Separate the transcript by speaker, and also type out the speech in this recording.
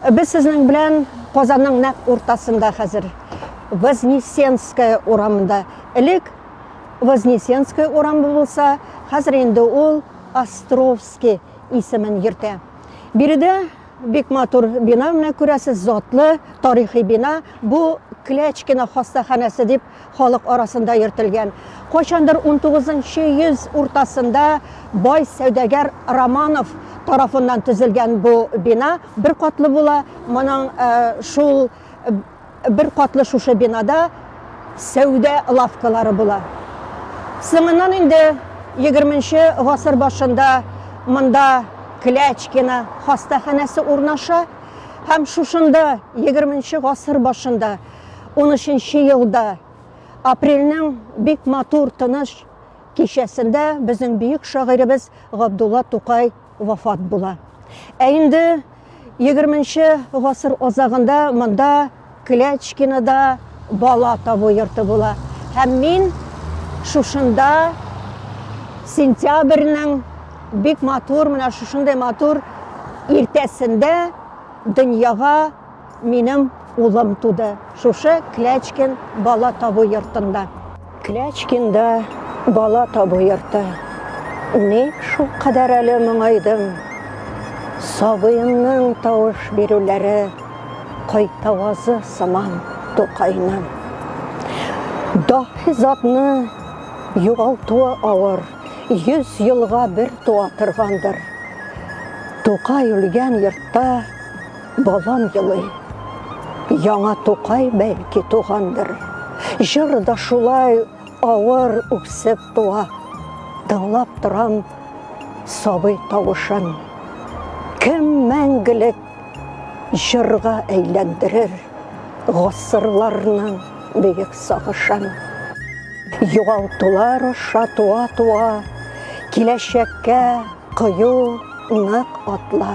Speaker 1: Без сезнең белән Казанның нәкъ уртасында хәзер. Вознесенская урамында. Элек Вознесенская урамы булса, хәзер инде ул Островский исемен йөртә. Биредә бик матур бина менә күрәсез, затлы тарихи бина. Бу Клячкина хастаханәсе дип Халык арасында йөртелгән. Кайчандыр 19 нчы йөз уртасында бай сәүдәгәр Романов тарафыннан төзелгән бу бина бер катлы була. Моның э, шул э, бер катлы шушы бинада сәүдә лавкалары була. Соңыннан инде 20 нчы гасыр башында монда Клячкина хастаханәсе урнаша һәм шушында 20 нчы гасыр башында 13 елда апрельнең бик матур тыныч кичәсендә безнең бөек шагыйребез Габдулла Тукай вафат була. Ә инде 20-нче гасыр азагында монда Клячкинада бала табу йорты була. Һәм мин шушында сентябрьнең бик матур, менә шушындый матур иртәсендә дөньяга Минем улым туды шушы Клячкин бала табу йортында. Клячкинда бала табу йорты. Ник шул кадәр әле моңайдым? Сабыемның тавыш бирүләре кайтавазы сыман Тукайның. Даһи затны югалтуы авыр, йөз елга бер туа торгандыр. Тукай үлгән йортта Балам елый. Яңа Тукай бәлки тугандыр. Җыр да шулай авыр үксеп туа. Тыңлап торам сабый тавышын. Кем мәңгелек җырга әйләндерер гасырларның бөек сагышын. Югалтулар аша туа-туа, киләчәккә кыю нык атла.